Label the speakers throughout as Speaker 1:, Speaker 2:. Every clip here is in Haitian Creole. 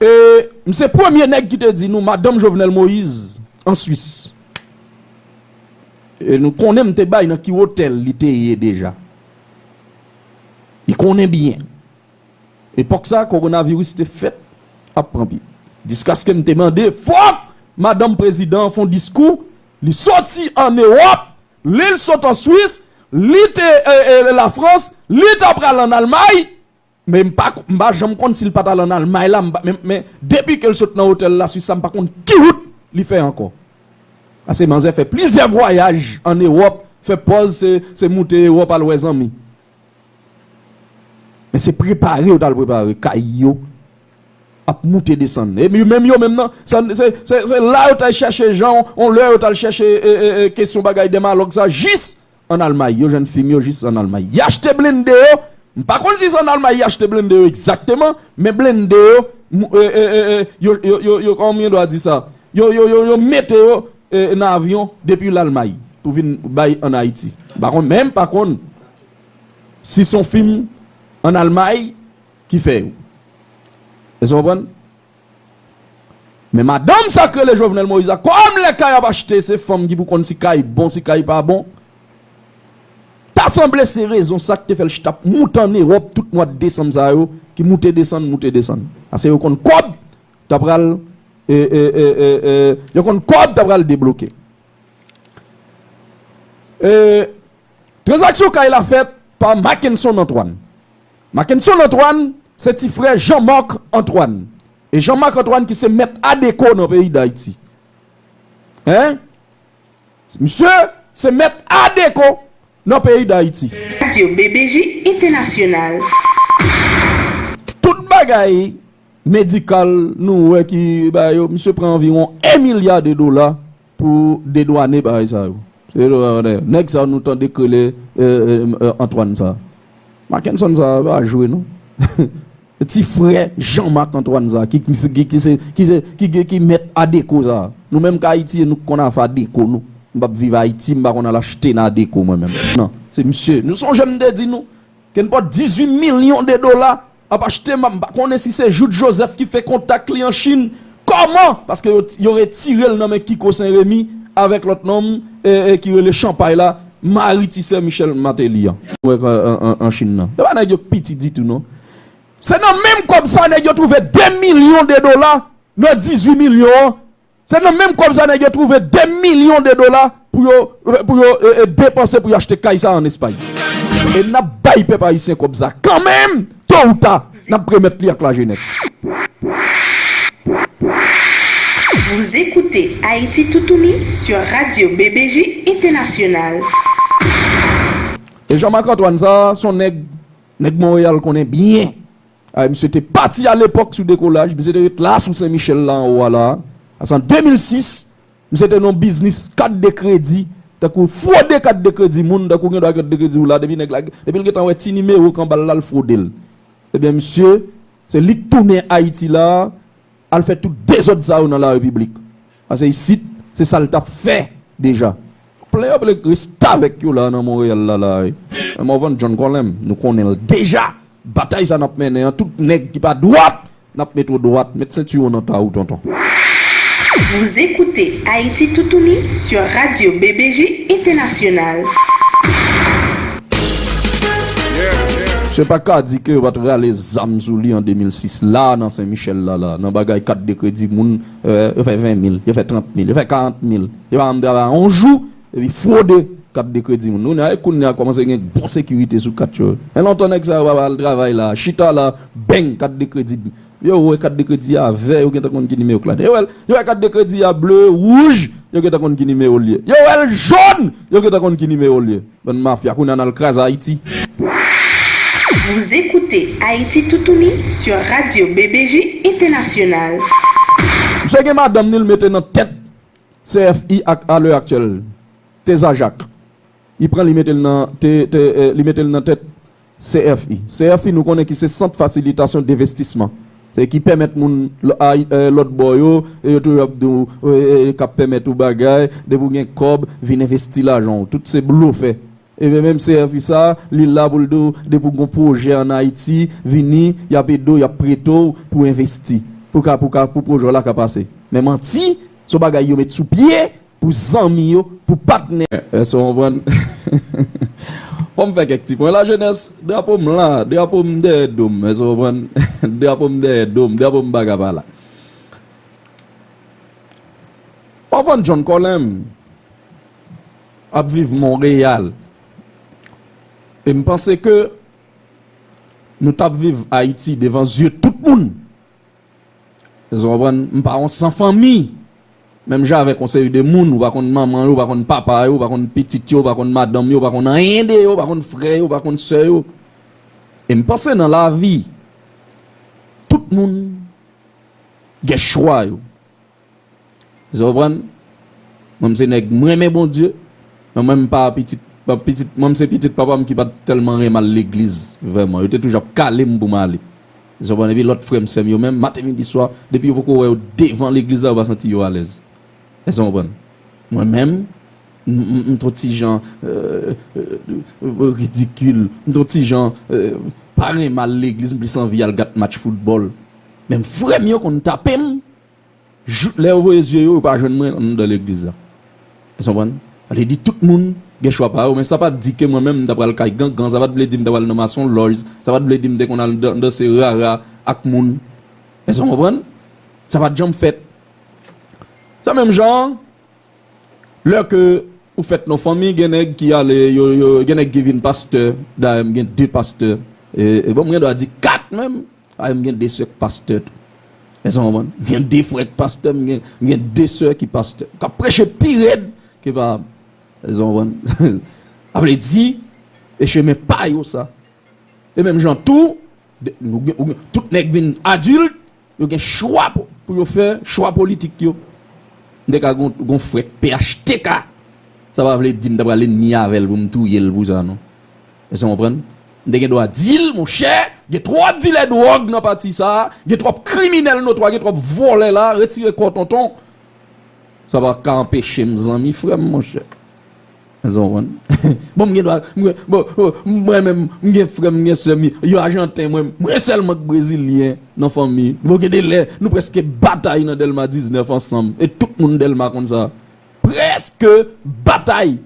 Speaker 1: E m se premye nèg ki te di nou madanm Jovenel Moïse an Swis. E nou konnen m te bay nan ki wotèl li te ye deja. Li konnen byen. Epòk sa kowonaviris te fèt ap pran pye. Jiskaske m te mande fòk madanm prezidan an fon diskou, li soti an Ewòp, li l sot an Swis, li te e e lafrans, li ta pral an Almay. Men m pa m pa janm konn si l pat al an Almay la m pa men men depi ke l sot nan otèl Laswis la m pa konn ki wout li fè ankò. Pase manzè fè plizyè vwayaj an Ewòp fè pòz se se moute Ewòp al wè zanmi. Men se prepare yo t al prepare kay yo ap moute desann e yo menm yo menm nan sa se se se la yo t al chèche jan on lè yo t al chèche e e kesyon bagay dèmalòg sa jis An Almay, yo jwenn fim yo jis an Almay. Y achte blende yo, m pa konn si se an Almay y achte blende yo egzakteman, men blende yo, yo kòman m dwa di sa, yo mete yo nan avyon depi Lalmay pou vin bay an Ayiti. M pa konn, men m pa konn si se yon fim an Almay ki fè yo. Èske w konprann? Men madanm sa k rele Jovenel Moïse la kòm lè kay ap achte se fanm ki pou konn si kay bon si kay pa bon ta sanble se rezon sa k te fè l chita ap moute ann Ewòp tout mwad desanm sa yo ki moute desann moute desann pase yo konn kòb ta pral yo konn kòb ta pral debloke Tranzaksyon kay la fèt pa Makenson Antoine Mackenson Antoine se ti frè Jean Marc Antoine e Jean Marc Antoine ki se mèt ADECO nan peyi Dayiti. Hein? Misye se mèt ADECO nan peyi Dayiti. Radio BBJ
Speaker 2: International.
Speaker 1: Tout bagay medikal nou wè ki bay yo, misye pran anviwon 1 milya de dola Pou dedwane bagay sa yo. Nèg sa nou tande k rele Antoine sa. Makenson sa a pa jwe non. Ti frè Jean Marc Antoine sa ki ki mèt Adeko sa. Nou menm k Ayiti e nou k konn afè Adeko nou. M pap viv Ayiti m pa konn al achte nan Adeko mwen menm. Non. Se misye. Nou sonje m te di nou ke n pot 18 milyon de dola. Ap achte ma m pa konnen si se Jouthe Joseph ki fè kontak li an Chin kòman paske yo retirel nan men Kiko Sen Remi avèk lòt nonm ki rele Chanpay la mari ti sè Michel Martelly an. an Chin nan. Se pa nèg yo k piti ditou non. Se nan menm kòb sa nèg yo twouve 2 milyon de dola nan 18 milyon an Se nan menm kòb sa nèg yo twouve 2 milyon de dola pou yo pou yo depanse pou yo achte kay sa an Espay. E n ap bay pèp ayisyen kòb sa kan menm, to ou ta n ap remèt li ak lajenès.
Speaker 2: Vous écoutez Haïti Toutouni sur Radio BBJ International.
Speaker 1: E Jean Marc Antoine sa, son nèg, nèg Monreyal konnen byen. Ay misye te pati alepòk sou dekolaj, misye te ret la sou Sen Michèl la anwo a la a, se an 2006, misye te nan yon biznis kat de kredi tankou fwode kat de kredi moun tankou gen dwa kat de kredi w la depi nèg la, depi l gentan wè ti nimewo k anba l la l fwode l. Ebyen misye, se li k tounen Ayiti la a, al fè tout dezòd sa yo nan larepiblik. Pase isit se sal tap fè deja. Plen yo plen restavèk yo la nan Montréal la la wi. Men Morvan John Colem nou konnenl deja batay sa nap mennen an tout nèg ki pa dwat nap met ou dwat met senti ou nan ta ou tonton.
Speaker 2: Vous écoutez Haïti Toutouni sur Radio BBJ Internationale.
Speaker 1: Misye pa ka di ke yo pat rale zam sou li an 2006 la nan Sen Michel la la nan bagay kat de kredi moun. yo fè 20 mil, yo fè 30 mil, yo fè 40 mil, yo pa janm travay yon jou epi fwode kat de kredi moun. Kounye a e kounye a kòmanse gen bon sekirite sou kat yo. Men lontan nèg sa yo pa al travay la, chita la, beng kat de kredi bip. Yo wè kat de kredi a vè, yo gentan konn ki nimewo k ladan. Yo wè yo wè kat de kredi a ble, wouj, yo gentan konn ki nimewo l ye. Yo wè l jòn, yo gentan konn ki nimewo l ye. Bann mafia kounye a nal kraze Haiti.
Speaker 2: Vous écoutez Haïti Toutouni sur Radio BBJ Internationale.
Speaker 1: Msye gen madanm ni l mete nan tèt CFI ak a lè aktyèl. Teza Jacques. Li pran li mete l nan, te, te, li mete l nan tèt CFI, CFI nou konnen ki se sant fasilitasyon devestisman, se ki pèmèt moun lòt bò yo, yo toujou ap di w k ap pèmèt ou bagay, depi w gen kòb, vin envesti lajan w, tout se blofè. Ebyen menm CFI sa, li la pou l di w depi w gon pwojè an Ayiti, vini, y ap ede w, y ap prete w pou envesti, pou ka pou ka pou pwojè w la ka pase. Men manti, s on bagay yo met sou pye, pou zanmi yo, pou patnè yo. Èske w konprann? Fò m fè kèk ti pwen. Lajenès, drapo m la, drapo m dèyè do m. Èske w konprann? Drapo m dèyè do m, drapo m paka pa la. Pavon John Colem ap viv Monreyal. E m panse ke nou t ap viv Ayiti devan zye tout moun. Èske w konprann? M pa yon san fanmi! Menm jan avèk yon seri de moun, ou pa konn manman yo, ou pa konn papa yo, ou pa konn pitit yo, ou pa konn madanm yo, ou pa konn anyen de yo, ou pa konn frè yo, ou pa konn sè yo. E m panse nan lavi, tout moun gen chwa yo. Eskew konprann? Mwen m se nèg m renmen Bondye, men mwen m pa pitit pitit mwen m se pitit papa m ki pat tèlman renmn al legliz vrèman. Yo te toujou ap kale m pou m ale. Eskew konprann? Epi lòt frèm sèm yo menm maten midi swa depi yo poko wè yo devan legliz la yo pa santi yo alèz. Eskew konprann? Mwen menm m t on ti jan ridikil, m t on ti jan pa renmen al legliz m plis anvi al gad match foutbòl. Men frèm yo konn tape m. Jouk lè yo voye zye yo, yo pa jwenn mwen anndan legliz la. Èske nou konprann? Sa vle di tout moun gen chwa pa yo, men sa pa t di ke mwen menm m ta pral kay gangan, sa pa t vle di m ta pral nan masonlòj, sa pa t vle di m te konn al dan danse rara ak moun. Èske nou konprann? Sa pa t janm fèt. Se menm jan an, lè ke ou fèt nan yon fanmi, gen nèg ki ale, yo, yo, gen nèg ki vin pastè, dayè m gen de pastè, e, e bon m gen dwa di kat menm. Ay m gen 2 sè k pastè tou. Èske w konprann? M gen 2 frè k pastè, m gen 2 sè ki pastè, k ap preche pi rèd ke papa m. Èske w konprann? Sa vle di, e chemen pa yo sa. E menm jan tou, tout nèg vin adilt, yo gen chwa pou yo fè, chwa politik yo. M te ka gen yon frè k phtk, sa pa vle di m ta pral enmi avè l pou m touye l pou sa non. Èske nou konprann? M te gen dwa di l, monchè, gen twòp dilè dwòg nan pati sa a, gen twòp kriminèl notwa, gen twòp vòlè la a, retire kò w tonton. Sa pa ka anpeche m zanmi frè m, monchè. Èske nou konprann? Bon, m gen dwa, m gen, bon, bon, mwen menm, m gen frè m, m gen sè m, yo ajanten, mwen, mwen sèlman ki brezilyen nan fanmi. Bon, gen de lè, nou prèske batay nan Dèlma 19 ansanm, e tout moun Dèlma konn sa. Prèske batay!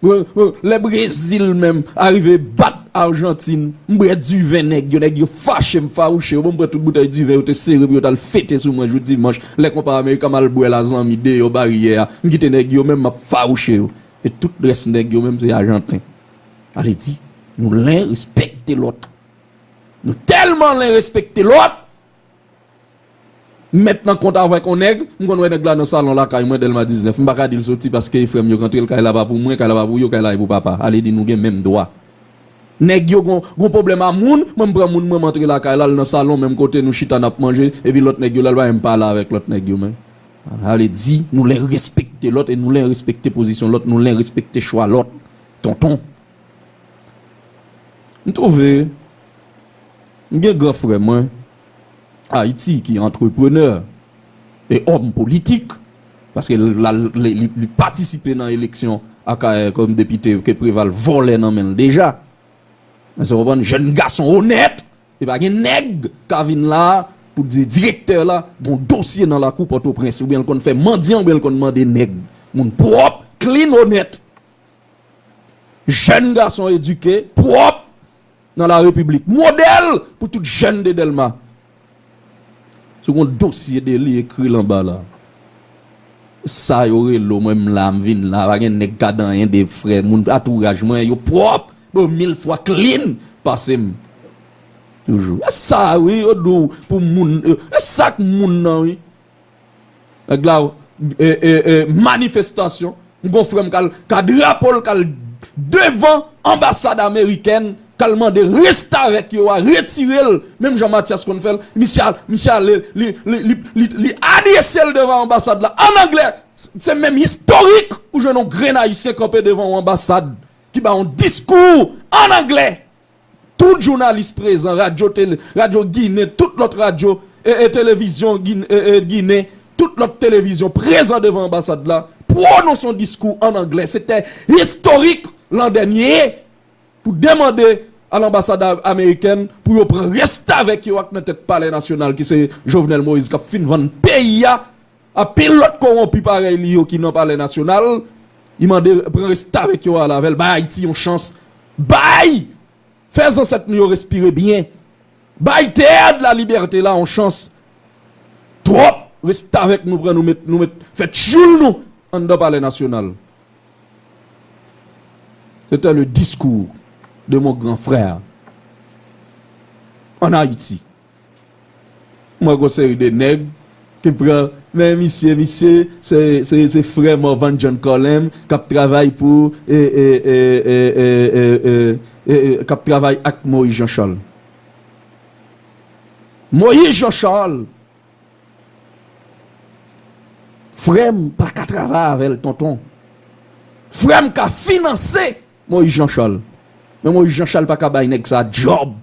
Speaker 1: Lè brezil menm arive bat arjantin m bwè diven nèg yo nèg yo fache m fawouche yo bon m pran tout boutèy diven yo te sere pou yo tal fete sou mwen jou dimanch lè konpa amerika m al bwè l a zanmi deyò baryè a m kite nèg yo menm m ap fawouche yo e tout rès nèg yo menm se ajanten ale di nou len respekte lòt nou tèlman len respekte lòt M mèt nan kont avèk on nèg, m konn wè nèg la nan salon lakay mwen, Dèlma 19. M pa ka di l soti paske frè m yo rantre l, kay la pa pou mwen, kay la pa pou yo, kay la e pou papa. Ale di nou gen menm dwa. Nèg yo gon gon pwoblèm a moun, mwen m pran moun mwen m antre lakay la, l nan salon menm kote nou chita n ap manje, epi lòt nèg yo la l pa menm pale avèk lòt nèg yo menm. Ale di nou len respekte lòt e nou len respekte pozisyon lòt, nou len respekte chwa lòt. Tonton. M twouve. M gen gran frè mwen Ayiti ki antreprenè e òm politik, paske l al li patisipe nan eleksyon Akayè kòm depite ke Preval vòlè nan men l deja. Èske w konprann? Jèn gason onèt e pa gen nèg ka vin la a pou di direktè la gon dosye nan lakou Pòtoprens oubyen l konn fè mandyan oubyen l konn mande nèg. Moun pwòp, klin, onèt. Jèn gason edike, pwòp, nan la repiblik modèl pou tout jèn de dèlma se gon dosye de li ekri lan ba la sa yo relo mwen m la m vin la pa gen nèg ka dan yen de frè moun atouraj mwen yo pwòp bon mil fwa klin pase m toujou e sa wi yo di w pou moun e sak moun nan wi. Nèg la manifestasyon m gon frèm kal ka drapo l kal devan anbasad amerikèn kal mande restavèk yo a retire l menm jan Matyas konn fè l misye ale li adrese l devan anbasad la an anglè se menm istorik ou jwenn yon grenn ayisyen kanpe devan yon anbasad ki ba yon diskou an anglè Tout jounalis prezan, radyo tele, radyo ginen, tout lòt radyo, e e televizyon ginen, e e ginen, tout lòt televizyon prezan devan anbasad la, pwononse yon diskou an anglè. Se te istorik lan dènye pou demande a lanbasad amerikèn pou yo pran restavèk yo ak nan tèt palè nasyonal ki se Jovenel Moïse k ap fin vann peyi a, Anpil lòt kowonpi parèy li yo ki nan palè nasyonal, li mande pran restavèk yo al avè l, bay Ayiti yon chans, bay! Fè zansèt nou yo respire byen, bay Théâtre de la Liberté la yon chans. Twòp restavèk nou pran nou met nou met fè tchyoul nou anndan palè nasyonal. Sete le discours de mon grand frère en Haïti. M wè gon seri de nèg ki pran men misye, misye se frè Morvan John Colem k ap travay pou k ap travay ak Moyiz Jan Chal. Moyiz Jan Chal, frè m pa ka travay avè l tonton. Frè m ka finanse Moyiz Jan Chal, men Moyiz Jan Chal pa ka bay nèg sa djòb.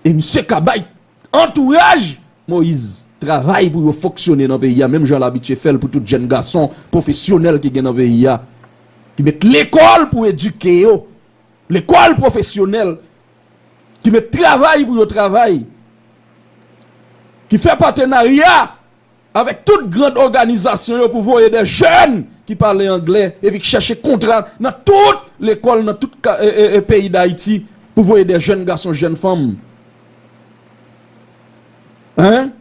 Speaker 1: E misye ka bay antouraj Moise travay pou yo fonksyone nan peyi a menm jan l abitye fè l pou tout jenn gason pwofesyonèl ki gen nan peyi a ki met lekòl pou edike yo lekòl pwofesyonèl ki met travay pou yo travay ki fè patenarya avèk tout grand òganizasyon yo pou voye dè jèn ki pale anglè epi k chèche kontra nan tout lekòl nan tout peyi dayiti pou voye dè jèn gason jèn fanm hein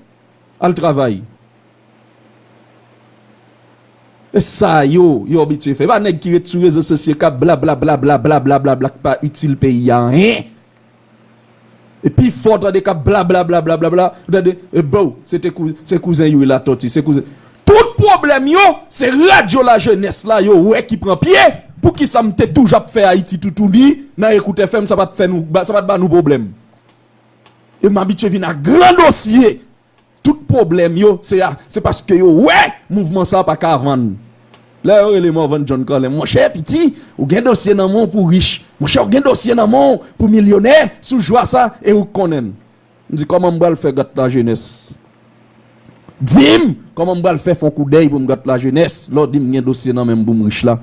Speaker 1: al travay e sa yo yo abitye fè e pa nèg ki ret sou rezo sosyo kap blablabla blablabla blablabla k pa itil peyi a anyen E pi fò tande kap blablablablabla ou tande e bou se te se kouzen youri latòti se kouzen tout pwoblèm yo se radyo lajenès la yo wè ki pran pye pou kisa m te toujou ap fè ayiti toutouni nan ekout fm sa pat fè nou sa pat ba nou pwoblèm e m abitye vin ak gran dosye Tout pwoblèm yo se a se paske yo wè mouvman sa pa ka vann. Lè yo rele Morvan John Colin, monchè piti ou gen dosye nan men w pou rich, monchè ou gen dosye nan men w pou milyonè sou jwa sa e ou konnen l. M di kòman m pral fè gate lajenès? Di m kòman m pral fè fon koudèy pou m gate lajenès lè w di m gen dosye nan men m pou m rich la?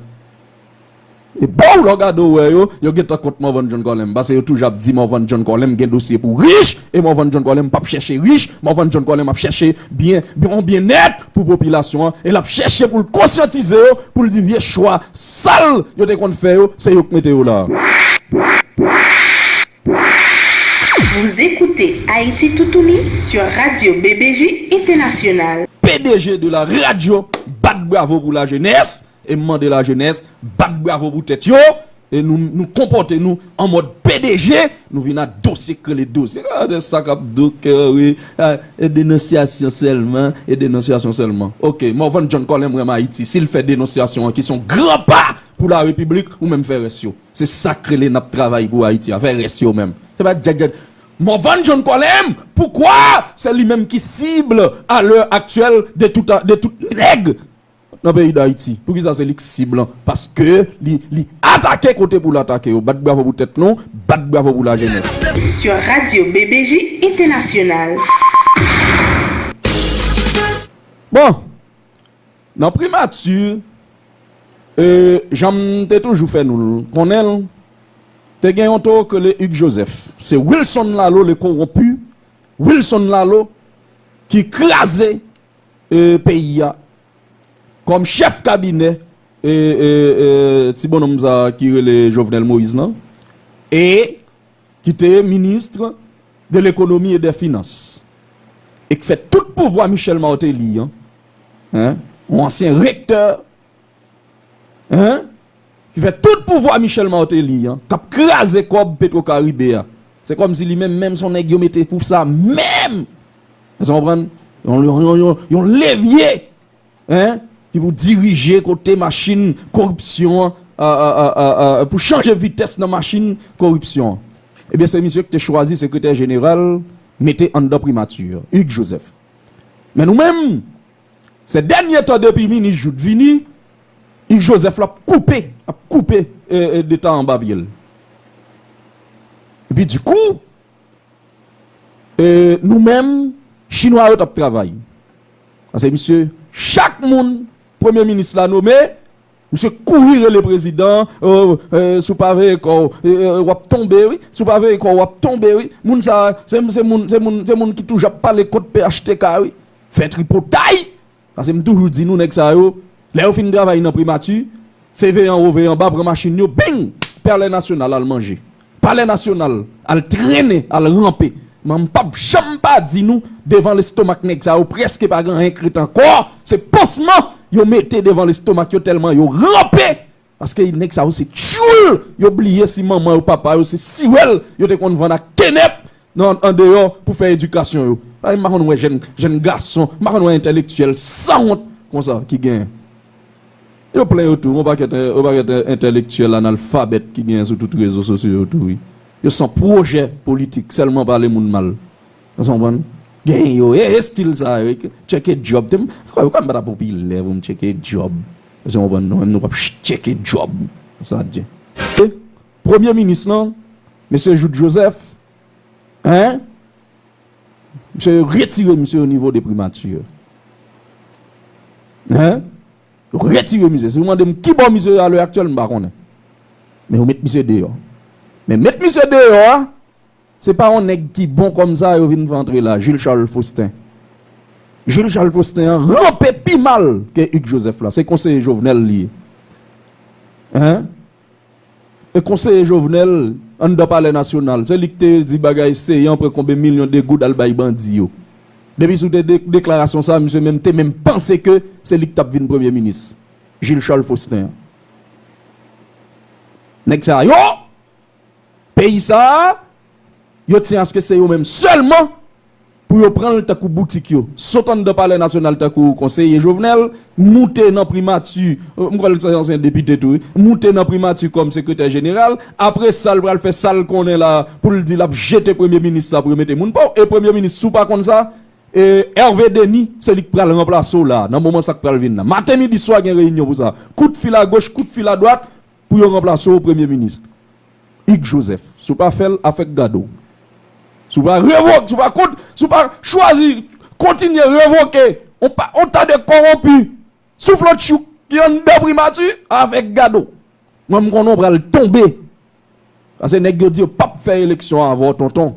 Speaker 1: Epou lè w gade w wè yo, yo gentan kont Morvan John Colem pase yo toujou ap di Morvan John Colem gen dosye pou rich e Morvan John Colem pap chèche rich, Morvan John Colem ap chèche byen yon byennèt pou popilasyon an e lap chèche pou l konsyantize yo pou l di vye chwa sal yo te konn fè yo se yo k mete yo la a.
Speaker 2: PDG de la
Speaker 1: radio bat bravo pou la jeunesse. E m mande lajenès bat bravo pou tèt yo e nou nou konpòte nou an mòd pdg nou vin ak dosye k rele dosye gade sa k ap doke wi e denonsyasyon sèlman e denonsyasyon sèlman ok Morvan John Colin m renmn Ayiti si l fè denonsyasyon an ki s on gran pa pou larepiblik ou menm fè rès yo se sa k rele n ap travay pou Ayiti a fè rès yo menm se pa djak djak Morvan John Colin poukwa se li menm ki sib a lè aktyèl de tout a de tout nèg nan peyi dayiti poukisa se lik sib lan paske li atake kote poul atake yo bat bravo pou tèt nou bat bravo pou la jenès. Sur radio
Speaker 2: BBJ International.
Speaker 1: Bon! Nan primati, jan m te toujou fè nou konnen l, te gen yon toro k rele Hugues Joseph. Se Wilson Laleau le corrompu, Wilson Laleau ki kraze peyi a kòm chèf kabinè ti bononm sa ki rele Jovenel Moïse lan e ki te ministr de lekonomi e dè finans e k fè tout pouvwa Michel Martelly an yon ansyen rektè Hein? Ki fè tout pouvwa Michel Martelly an kap kraze kòb Petro Caribe a. Se kòm si li menm menm son nèg yo mete pou sa menm! Èske nou konprann? Yon levye hein ki pou dirije kote machin koripsyon an pou chanje vitès nan machin koripsyon an. Ebyen se misye ki te chwazi sekretè jeneral mete anndan primati Hugues Joseph. Men nou menm Sè dènye tan depi minis Jouthe vini Yves Joseph la ap koupe ap koupe de tan anba pye l. Epi di kou nou menm chinwa yo t ap travay. Pase misye chak moun premye minis la nome. Misye kouri rele prezidan an ooh si w pa veye kò w w ap tonbe wi si w pa veye kò w w ap tonbe wi moun sa a se se moun se moun se moun ki toujou ap pale kont phtk wi fè tripotay pase m toujou di nou nèg sa yo lè yo fin travay nan primati se veye anwo veye anba pran machin yo bing pèlen nasyonal al manje Palè nasyonal al trennen al ranpe m'en mpap janm pa di nou devan lestomak nèg sa yo preske pa gen anyen k ret ankò se pansman yo mete devan lestomak yo tèlman yo ranpe paske nèg sa yo se tyoul yo bliye si manman yo papa yo se siwèl yo te konn vann ak kenèp nan andeyò pou fè edikasyon yo m pa konn wè jèn jèn gason m pa konn wè entèlektyèl sanwont konsa ki gen. Yo plen yo tou, yon pakèt yon pakèt entèlektyèl analfabèt ki genyen sou tout rezo sosyo yo tou wi. Yo san pwojè politik, sèlman pale moun mal. Èske w konprann? Genyen yo, e estil sa yo, tcheke djòb. Te m, ou kwè m pa ta popilè pou m tcheke djòb? Èske w konprann? Non, menm nou p ap tcheke djòb. Sa di. E premye minis lan, mesye Jouthe Joseph, hein? Misye yo retire misye onivo de primature. Hein? Retire misye. Si ou mande m kibò misye ye a lè aktyèl, m pa konnen. Men ou met misye deyò. Men met misye deyò a, se pa yon nèg ki bon kòm sa yo vin fè antre la, Jules Charles Faustin. Jules Charles Faustin an ranpe pi mal ke Hugues Joseph la. Se konseye Jovenel li ye. Hein? E konseye Jovenel anndan palè nasyonal se li ki te di bagay Ceant pran konbe milyon de goud al bay bandi yo. Depi sou de deklarasyon sa misye menm te menm panse ke se li ki tap vin premye minis. Jules Charles Faustin an. Nèg sa yo peyi sa. Yo t se aske se yo menm selman pou yo pran l tankou boutik yo. Sot anndan palè nasyonal tankou konseye Jovenel, moute nan primati, m kwè l se ansyen depite tou wi, moute nan primati kòm sekretè jeneral, apre sa l pral fè sa l konnen la pou l di l ap jete premye minis la pou yo mete moun pa w e premye minis si w pa konn sa e Hervé Denis se li k pral ranplase w la nan moman sa k pral vin la maten midi swa gen reyinyon pou sa kout fil agoch kout fil adwat pou yo ranplase w premye minis. Hugues Joseph si w pa fè l afè k gade w si w pa revoke si w pa kont si w pa chwazi kontinye revoke on pa on ta de kowonpi souflot tchouk ki anndan primati afè k gade w mwen m konnen w pral tonbe pase nèg yo di yo pap fè eleksyon avè w tonton.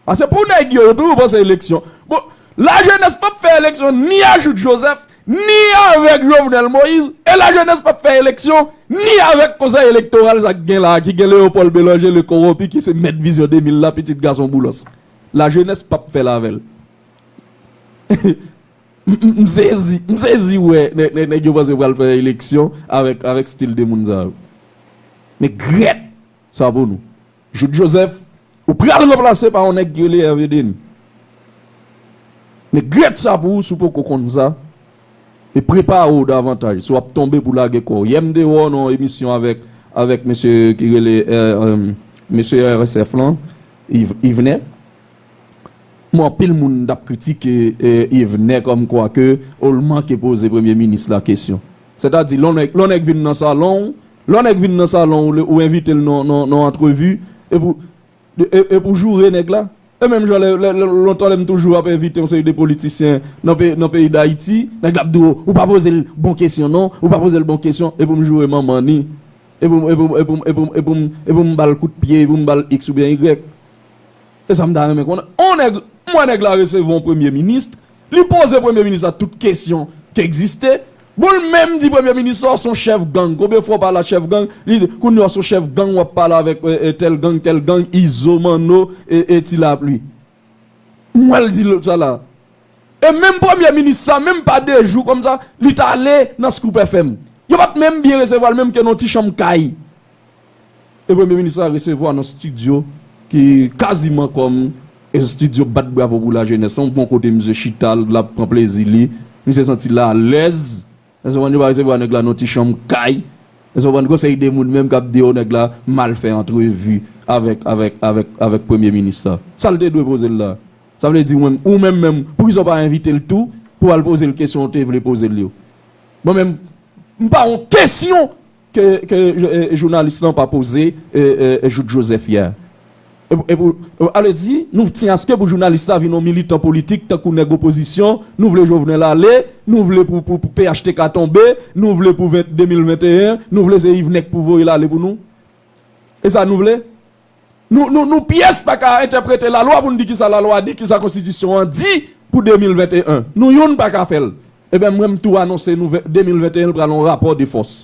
Speaker 1: Pase pou nèg yo, yo toujou panse eleksyon. Bon, lajenès pap fè eleksyon ni a Jouthe Joseph, ni avèk Jovenel Moïse, e lajenès pap fè eleksyon ni avèk konsèy elektoral sa ki gen la a, ki gen Léopold Bélanger le corrompu ki se mèt Vision 2000 la, pitit gason Boulos. Lajenès pap fè l avè l. M sezi, m sezi wè nèg yo panse yo pral fè eleksyon avèk stil de moun sa yo. Men grèt sa pou nou. Jude Joseph ou pral ranplase pa yon nèg ki rele Hervé Denis. Men grèt sa pou ou si w poko konn sa e prepare w davantaj si w ap tonbe pou lage kò w. Yè m te wè w nan yon emisyon avèk avèk mesye ki rele mesye RSF lan Yvene. Bon anpil moun t ap kritike Yvene kòm kwa ke ou l manke poze premye minis la kesyon. Sètadi lè yon nèg vin nan salon w Lè yon nèg vin nan salon w ou envite l nan antrevi epi w joure nèg la. E menm jan lontan lè m toujou ap envite yon seri de politisyen nan peyi Dayiti, nèg la ap di w ou pa poze l bon kesyon non, ou pa poze l bon kesyon epi m joure manman ni, epi m ba l kout pye, epi m ba l iks oubyen ygrèk. E sa m ta renmen konnen, on nèg, m wè nèg la resevwa on premye minis, li poze premye minis la tout kesyon k egziste, bon l menm di premye minis la w s on chèf gang, konbyen fwa w pale a chèf gang, li di kounye a w s on chèf gang w ap pale avèk tèl gang, tèl gang, Izo, Manno, e Ti Lapli. M wè l di l sa la. E menm premye minis sa, menm pa de jou kòm sa, li t ale nan Scoop FM. Yo pa t menm byen resevwa l menm ke nan w ti chanm kay. E premye minis la resevwa nan stidyo ki kaziman kòm estidyo bat bravo pou lajenès lan, gon kote misye chita l ap pran plezi li, misye santi l alèz, èske w konprann, yo pa resevwa nèg la nan ti chanm kay, èske w konprann, konsèy de moun menm k ap di o nèg la mal fè antrevi avèk, avèk, avèk, avèk premye minis la. Sa l te dwe poze l la? Sa vle di ou menm menm poukisa w pa envite l tou pou w al poze l kesyon ou te vle poze l yo? Mwen menm m pa yon kesyon! Ke jounalis lan pa poze jout Joseph yè. Ale di, nou tyen aske pou jounalis la vin yon militan politik tankou nèg opozisyon, nou vle Jovenel ale, nou vle pou phtk tonbe, nou vle pou 2021, nou vle se Yvenèk pou voye l ale pou nou. E sa nou vle? Nou pyès pa ka entèprete lalwa pou n di ki sa lalwa di, ki sa konstitisyon an di pou 2021. Nou youn pa ka fè l. Eben mwen m tou anonse nou 2021 l pral yon rapò de fòs.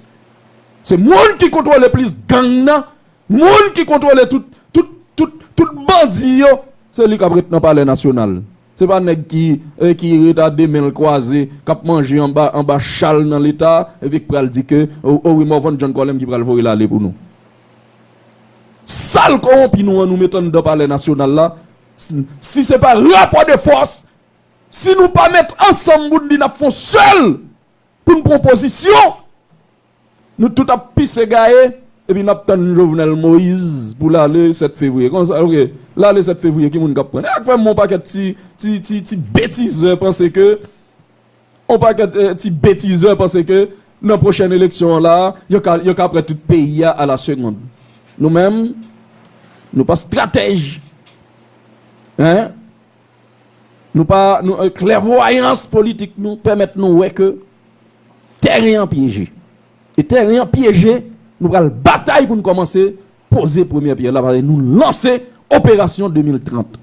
Speaker 1: Se moun ki kontwole plis gang nan, moun ki kontwole tout tout bandi yo, se li k ap ret nan palè nasyonal. Se pa nèg ki ret a 2 men l kwaze, k ap manje anba chal nan leta epi k pral di ke o wi Morvan John Colem ki pral voye l ale pou nou. Sal kowonpi nou an nou met anndan palè nasyonal la si se pa rapò de fòs si nou pa met ansanm pou n di n ap fon sèl pou n pran pozisyon nou tout ap pise gaye epi n ap tann jovenel moise pou l ale 7 fevriye konsa ok l ale 7 fevriye ki moun k ap pran n e ak fè m wè yon pakèt ti ti ti ti betizè panse ke On pakèt ti betizè panse ke nan pwochèn eleksyon an la a, yo ka pran tout peyi a ala segond. Nou menm, nou pa stratèj, hein, nou pa, klèvwayans politik nou pèmèt nou wè ke tèren an pyeje. E tèren an pyeje, nou pral batay pou nou kòmanse poze premyè pyè la, nou lanse operasyon 2030.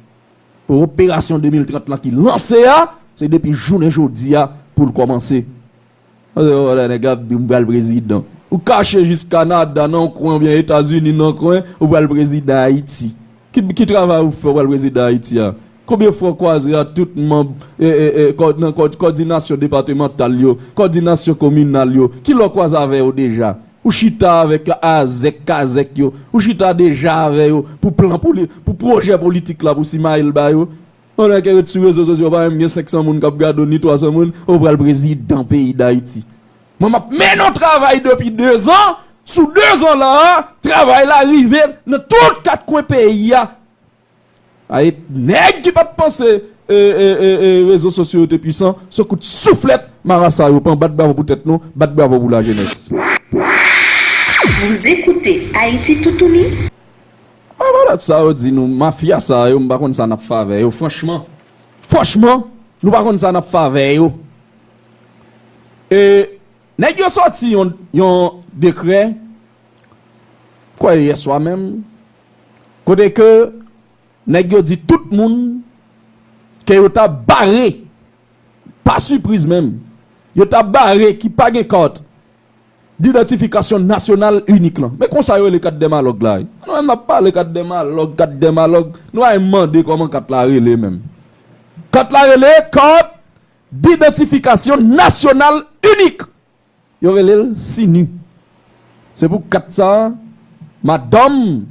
Speaker 1: Pou operasyon 2030 lan ki lanse a, se depi jounen jodi a pou l kòmanse. Alò lè nèg ap di w m pral prezidan, ou kache jis Kanada nan yon kwen oubyen Etazini nan yon kwen, ou pral prezidan Ayiti. Ki travay ou fè ou pral prezidan Ayiti a? Konbyen fwa ou kwaze ak tout manb kòdinasyon depatemantal yo, kòdinasyon kominal yo? Kilè ou kwaze avè yo deja? Ou chita avèk la azèk kazèk yo, ou chita deja avè yo pou plan poli, pou pwojè politik la pou simaye l ba yo. Pandan ke yo t sou rezo sosyo pa menm gen 500 moun kap gade w ni 300 moun, ou pral prezidan peyi dayiti. Mwen map mennen yon travay depi 2 zan, sou 2 zan la a, travay la rive nan tout 4 kwen peyi a. Ae neg ki pat panse rezo sosyo yo te pwisan se kout souflet marasa yo pran bat bravo pou tet nou bat bravo pou la jenes.
Speaker 2: Bon
Speaker 1: malat sa yo di nou mafya sa yo m pa konn sa nap fè avè yo franchman franchman nou pa konn sa nap fè avè yo e nèg yo sòti yon dekrè m kwè yèswa menm kote ke nèg yo di tout moun ke yo ta bare, pa sipriz menm, yo ta bare ki pa gen kart didantifikasyon nasyonal inik lan. Men konsa yo rele kat dèmalòg la wi. Nou menm nap pale kat dèmalòg, kat dèmalòg, nou al mande kòman kat la rele menm. Kat la rele kart didantifikasyon nasyonal inik. Yo rele l Sini. Se pou kat sa a madanm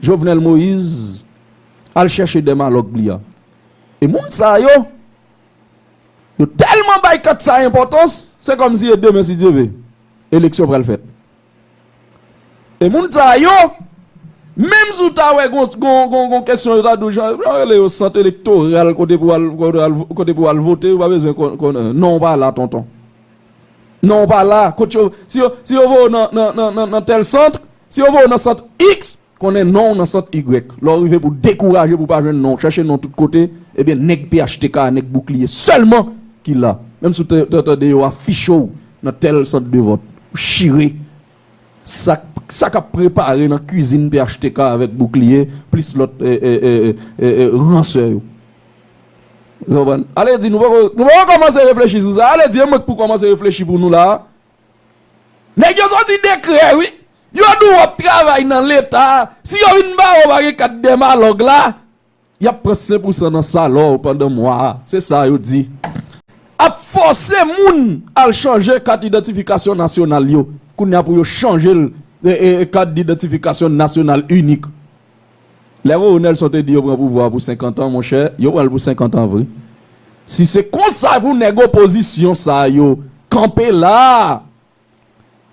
Speaker 1: Jovenel Moïse al chèche dèmalòg li a. E moun sa yo, yo tèlman bay kat sa a enpòtans, se kòmsi e demen si Dye ve, eleksyon pral fèt. E moun sa yo, menm si w ta wè gon kesyon yo ta di w jan yo rele yo sant elektoral kote pou w al vote yo pa bezwen konnen non w pa la tonton. Non w pa la, si yo voye w nan tèl sant, si yo voye w nan sant iks. Konnen non w nan sant Y. Lè w rive pou w dekouraje pou w pa jwenn non w, chèche non w tout kote, ebyen nèg phtk a, nèg boukliye sèlman ki la. Menm si w te tande yo afiche w nan tèl sant de vòt, w chire sa sa k ap prepare nan kizin phtk avèk boukliye plis lòt ransè yo. Èske w konprann? Ale di nou poko kòmanse reflechi sou sa. Ale di e mwen k pou kòmanse reflechi pou nou la a. Nèg yo sòti dekrè wi. Yo di w wap travay nan leta, si yo vin ba ou pa gen kat dèmalòg la, y ap pran 5 pou san nan salè w pandan mwa a, se sa yo di. Ap fòse moun al chanje kat idantifikasyon nasyonal yo, kounye a pou yo chanje l kat idantifikasyon nasyonal inik. Lè Roro Nelson te di yo pran pouvwa pou 50 ans monchè yo pranl pou 50 ans vre si se konsa pou nèg opozisyon sa yo kanpe la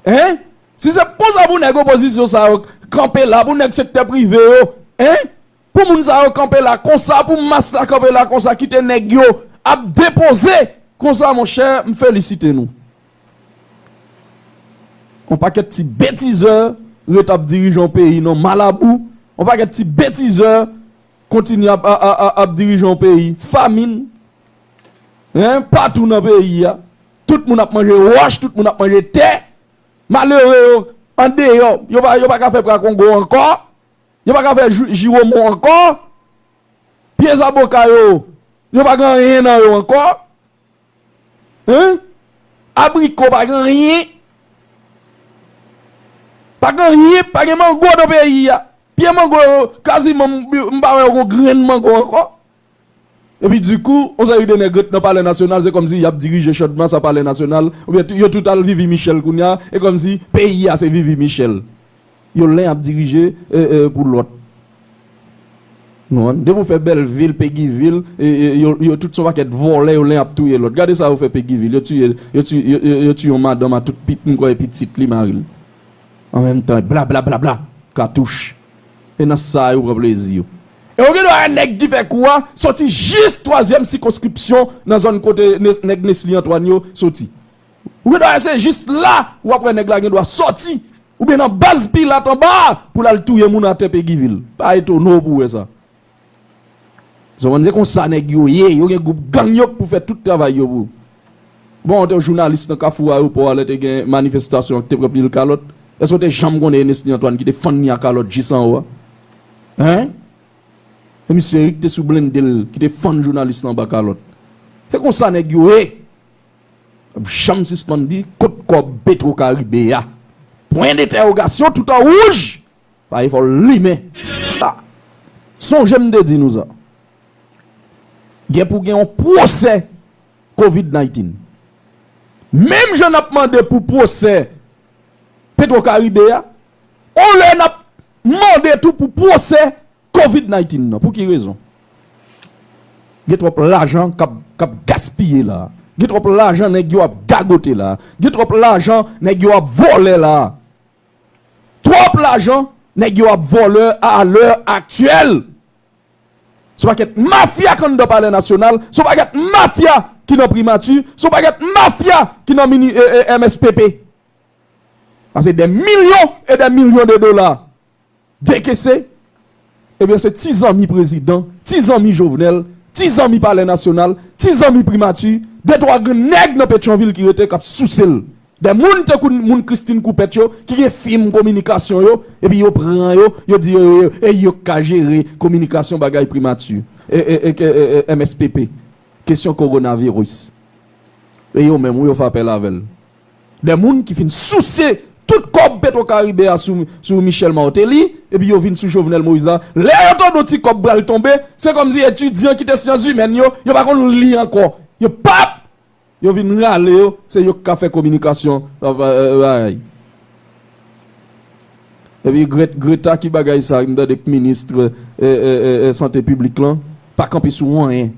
Speaker 1: hein si se pou konsa pou nèg opozisyon sa yo kanpe la pou nèg sektè prive yo hein pou moun sa yo kanpe la konsa pou mas la kanpe la konsa kite nèg yo ap depoze konsa monchè m felisite nou. Yon pakèt ti betizè ret ap dirije yon peyi non malabou yon pakèt ti betizè kontinye ap ap dirije yon peyi famin hein patou nan peyi a tout moun ap manje wòch tout moun ap manje tè malere yo andeyò yo pa yo pa ka fè pra kongo ankò yo pa ka fè jou jiwomon ankò pye zaboka yo yo pa gen anyen nan yo ankò. Humm abriko pa gen anyen pa gen anyen pa gen mango nan peyi a pye mango yo kaziman m pa wè yo gon grenn mango ankò epi di kou on seri de nèg ret nan palè nasyonal se kòmsi yap dirije chandmas a palè nasyonal oubyen yo tout al vivi michèl kounya e kòmsi peyi a se vivi michèl. Yo len ap dirije pou lot. Depi ou fè belvil, pegivil yo tout son pakèt volè yo len ap touye lot. Gade sa yo fè pegivil yo tiye yo tiye yon madanm a tout m kwè e pitit li maril. An menm tan blablablabla katouch. E nan sa yo pran plezi yo. E ou gen dwa wè nèg ki fè kou a soti jis twazyèm sikonskripsyon nan zòn kote nèg Nesly Antoine yo soti. Ou gen dwa wè se jis la ou ap wè nèg la gen dwa sòti oubyen nan baz pilat anba a pou l al touye moun atè Peguivil. Pa etone w pou w wè sa. Zonmann se konsa nèg yo ye, yo gen gwoup gang yo k pou fè tout travay yo pou. Bon ou te yon jounalis nan kafou ayewopò a lè te gen manifestasyon an ki te pran pil kalòt. Èske ou te janm konnen Enesnie Antoine ki te fann li a kalòt jis anwo a? Hein? Se misye wi ki te sou blende l ki te fann jounalis la anba kalòt. Se konsa nèg yo ye. Pap janm sispann di kot kòb petro karibe a pwen detèwogasyon tout an wouj pa efò limen a sonje m te di nou sa gen pou gen yon pwosè covid 19 menm jan nap mande pou pwosè petro karibe a on lè nap mande tou pou pwosè Covid 19 nan pou ki rezon gen twòp lajan kap gaspiye la, gen twòp lajan nèg yo ap gagote la, gen twòp lajan nèg yo ap vòlè la, twòp lajan nèg yo ap vòlè a lè aktyèl. Son pakèt mafya k anndan palè nasyonal, son pakèt mafya ki nan primati, son pakèt mafya ki nan mini MSPP. Sa se dè milyon e dè milyon de dola. dekese, ebyen se ti zanmi prezidan, ti zanmi Jovenel, ti zanmi palè nasyonal, ti zanmi primati, de twa grenn nèg nan Petyonvil ki rete k ap souse l. Dè moun tankou moun Christine Coupet yo ki gen fim kominikasyon yo, epi yo pran yo, yo di yo yo yo, e yo k ka jere kominikasyon bagay primati, MSPP, kesyon kowonaviris. E yo menm wi yo fè apèl avè l. De moun ki fin souse tout kòb petro karibe a sou Michel Martelly epi yo vin sou Jovenel Moïse la lè yo tande yon ti kòb pral tonbe se kòmsi etidyan ki te syanzimèn yo yo pa konn li ankò yo pap yo vin rale yo se yo ki ka fè kominikasyon bagay epi greta ki bagay sa m tande k ministre sante piblik lan pa kanpe sou anyen.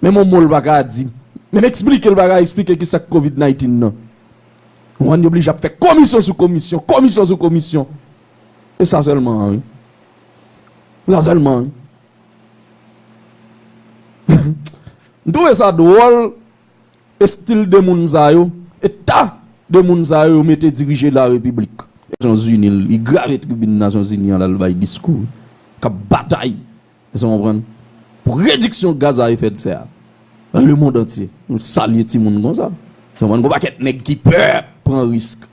Speaker 1: Menm yon mo l pa ka di. Menm eksplike l pa ka eksplike ki sa k covid 19 nan. Ou ann yo blije ap fè komisyon sou komisyon, komisyon sou komisyon. E sa sèlman an wi. E sa sèlman an wi. M twouve sa dwòl estil de moun sa yo, eta de moun sa yo yo mete dirije la repiblik. Nasyon zini li grave tribin nasyon zini an l al bay diskou. K ap batay. Èske nou konprann? Pou rediksyon gaz a efè dse a nan lemond antye. Nou salye timoun konsa. Èske nou konprann? Gon pakèt nèg ki pè pran risk.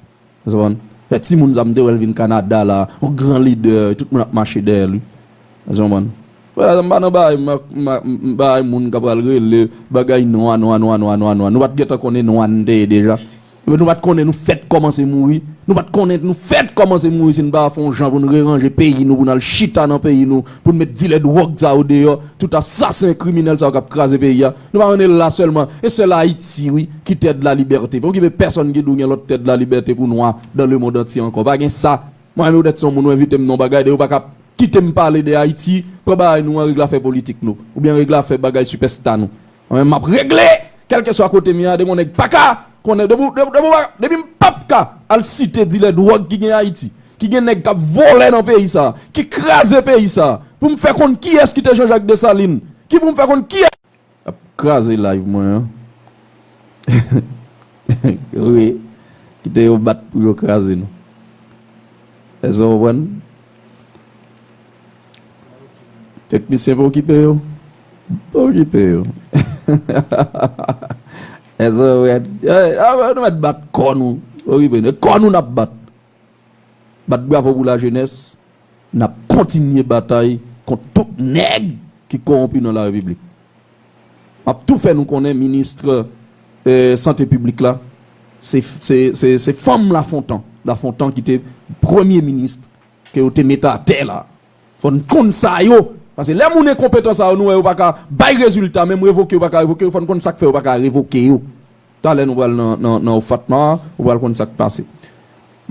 Speaker 1: Èske nou konprann? Fè timoun sa m te wè l vin Kanada la, yon gran lidè, tout moun ap mache dèyè li. Èske nou konprann? Wè la, m pa nan bagay m nan bagay moun k ap pral rele bagay nwa, nwa, nwa, nwa, nwa, nwa. Nou pa t gentan konnen nwa n te ye deja. Yo nou pat konnen nou fèt kòmanse mouri, nou pat konnen nou fèt kòmanse mouri si n pa fè yon jan pou n reranje peyi nou, pou n al chita nan peyi nou, pou n met dilè dwòg sa yo deyò, tout asasen kriminèl sa yo k ap kraze peyi a. Nou pa konn e la sèlman, e sèl Ayiti wi ki tè de la libète. Pa okipe pèsòn ki di w gen lòt tè de la libète pou nwa dan le mond antye ankò. Pa gen sa. Mwen menm petèt se yon moun ou envite m nan yon bagay, depi w pa ka kite m pale de Ayiti, pran bagay nou an regle afè politik nou, oubyen regle afè bagay sipèsta nou. Mwen menm map regle kelkeswa kotem ye ademo neg paka konnen depi mpap ka al site dilè dwòg ki gen ayiti ki gen neg kap volè nan peyi sa ki kraze peyi sa poum fè konn kiyes kite janjak desalin ki poum fè konn kiyes yap kraze live mwen an wi kite yo bat pou yo kraze nou eske w konprann. Teknisyen pa okipe yo Pa okipe yo Ezo red Nou met bat kò nou Pa okipe nou E kò nou nap bat Bat bravo pou la jenès Nap kontinye batay kont tout nèg ki kowonpi nan la repiblik Map tou fè nou konnen ministre sante piblik la Se fanm lafontan Lafontan ki te premye ministre Ke yo te mete atè la. Fò n konn sa yo. Pase lè moun enkonpetan sa yo nou wè yo pa ka bay rezilta menm revoke yo pa ka revoke yo fò n konn sak fè yo pa ka revoke yo. Talè nou pral nan OFATMA a ou pral konn sak pase.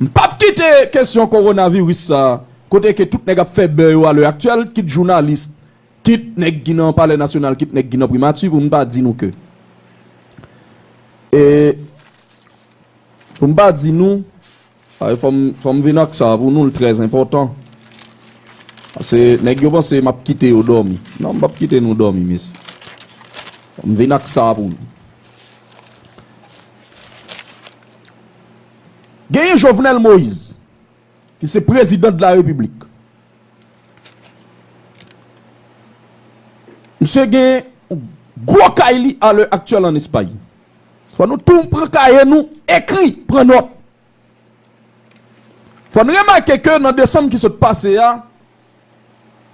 Speaker 1: M pap kite kesyon kowonaviris sa kote ke tout nèg ap fè bè yo a lè aktyèl kit jounalis kit nèg ki nan palè nasyonal kit nèg ki nan primati pou m pa di nou ke e pou m pa di nou. Ay fòm fòm vin ak sa pou nou l trè enpòtan pase nèg yo panse map kite yo dòmi non m pap kite nou dòmi mesye fòm vin ak sa pou nou genyen Jovenel Moïse ki se prezidan de la repiblik misye gen gwo kay li a lè aktyèl an Espagne. Fò nou tou pran kaye nou ekri, pran nòt. Fò n remake ke nan desanm ki sot pase a,